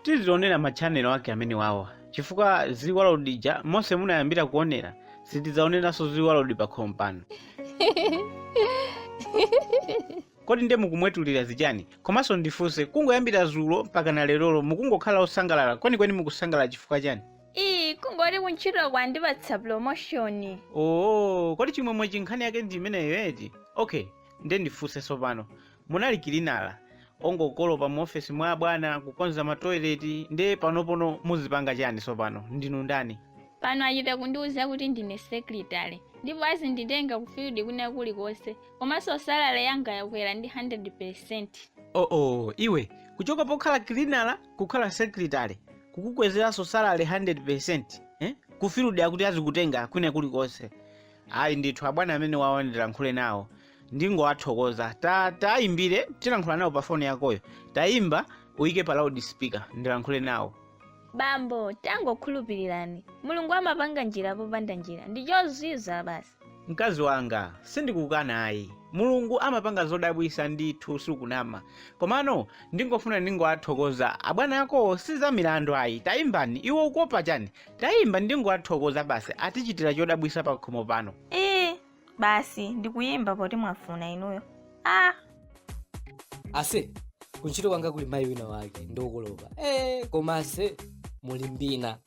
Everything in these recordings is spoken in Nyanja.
tizionera matchanelo ake amene wawa chifukwa zili wa load ija monse munayambira kuonera sitidzaoneranso zili wa load pakhomo pano kodi nde mukumwetulira zichani komanso ndifunse kungoyambira zulo mpaka na lerolo mukungokhala osangalala kwenikweni mukusangalala chifukwa chani ii kungoti kuntchito kwandipatsa promotion oo kodi chimwemwe chinkhani yake ndi imeneyo eti okay nde ndifunse tsopano Munali cleaner ongokolopa mu ofesi mwa abwana kukonza ma toilet nde panopono muzipanga chani sopano? Ndinu ndani? Pano achita kundiuza kuti ndine secretary ndipo azinditenga ku field kwina kulikonse komanso salary yanga yakwera ndi 100%. Oooh iwe, kuchoka pokhala cleaner kukhala secretary kukukwezeranso salary 100% eh? Ku field akuti azikutenga kwina kulikonse. Ayi ndithu abwana amenewawa ndilankhule nawo ndingowathokoza tatayimbire tilankhula nawo pa foni yakoyo tayimba uyike pa loud speaker ndilankhule nawo bambo tangokhulupirirani mulungu amapanga njira popanda njira ndi chozizwa basi mkazi wanga sindikukana ayi mulungu amapanga zodabwisa ndithu sukunama komano ndingofuna ndingowathokoza abwana ako si za milandu ayi tayimbani iwe ukuopa chani tayimba ndingowathokoza basi atichitira chodabwisa pakhomo pano ee basi ndikuyimba poti mwafuna inuyo ah ase kuntchito kwanga kuli mayi wina wake ngokolopa e koma ase muli mbina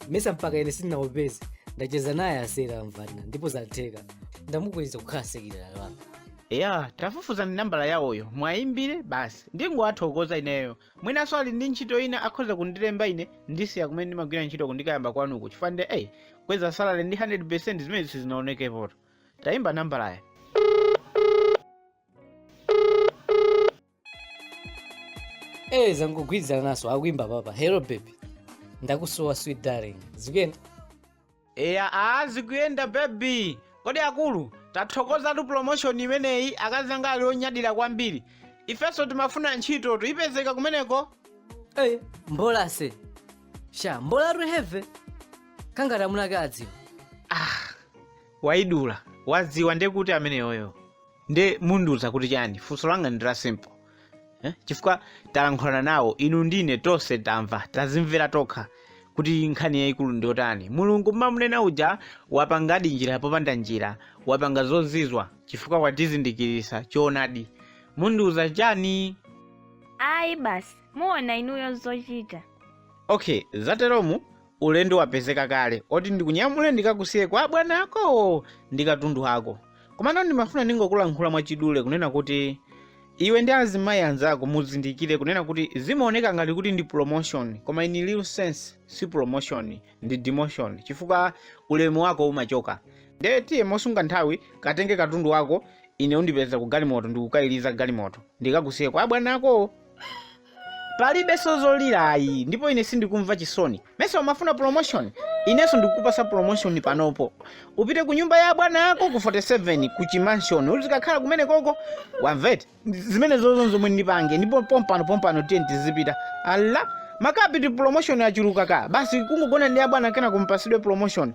mesa mpaka ine sindinaopseze ndacheza naye ase tamvana ndipo zatheka ndamukweza kukhala secretary wanga ya tafufuzani nambala yawoyo mwayimbire basi ndingowathokoza ineyo Mwinanso ali ndi ntchito ina akhoza kundilemba ine ndisiya kumene ndimagwira ntchito kuja ndikayamba kwanuko chifukwa nde akweza salary ndi 100% zimenezi sizinaonekepoto. Tayimba nambalayo. Eh, zangogwirizananso akuimba apapa. Hello baby. Ndakusowa sweet darling. Zikuyenda? eya a zikuyenda baby kodi akulu tathokozatu promotion imeneyi akazi anga ali onyadira kwambiri ifenso timafuna ntchito tu ipezeka kumeneko eyi mbola ase sha mbolatu heve kangati amuna ake adziwa wayidula wadziwa ndekuti ameneyoyo nde mundiuza kuti chani funso langa ndi la simple eh? chifukwa talankhulana nawo inu ndi ine tonse tamva tazimvera tokha kuti nkhani yayikulu ndi yotani mulungu mumamunena uja wapangadi njira popanda njira wapanga zozizwa chifukwa watizindikirisa choonadi mundiuza chani ayi basi muona inuyo zochita okay zateromu Ulendo wapezeka kale oti ndikunyamule ndikakusiye kwa abwana akowo ndi katundu ako. Komano ndimafuna ndingokulankhula mwachidule kunena kuti iwe ndi azimayi anzako muzindikire kunena kuti zimaoneka ngati kuti ndi promotion koma in real sense si promotion ndi demotion chifukwa ulemu wako umachoka. Ndiye tiye mosunga nthawi katenge katundu wako ine undipeza ku galimoto ndikukaliza galimoto ndikakusiye kwa abwana akowo. palibenso zolira ayi ndipo ine sindikumva chisoni mesa umafuna promotion inenso ndikukupatsa promotion panopo upite ku nyumba ya bwana ako ku 47 ku chimansion uzikakhala kumene koko wamvete zimenezo ndi zomwe ndipange ndipo pompano pompano tiye tizipita ala makapiti promotion achuluka ka basi kungogona ndi abwana kenaka mupatsidwe promotion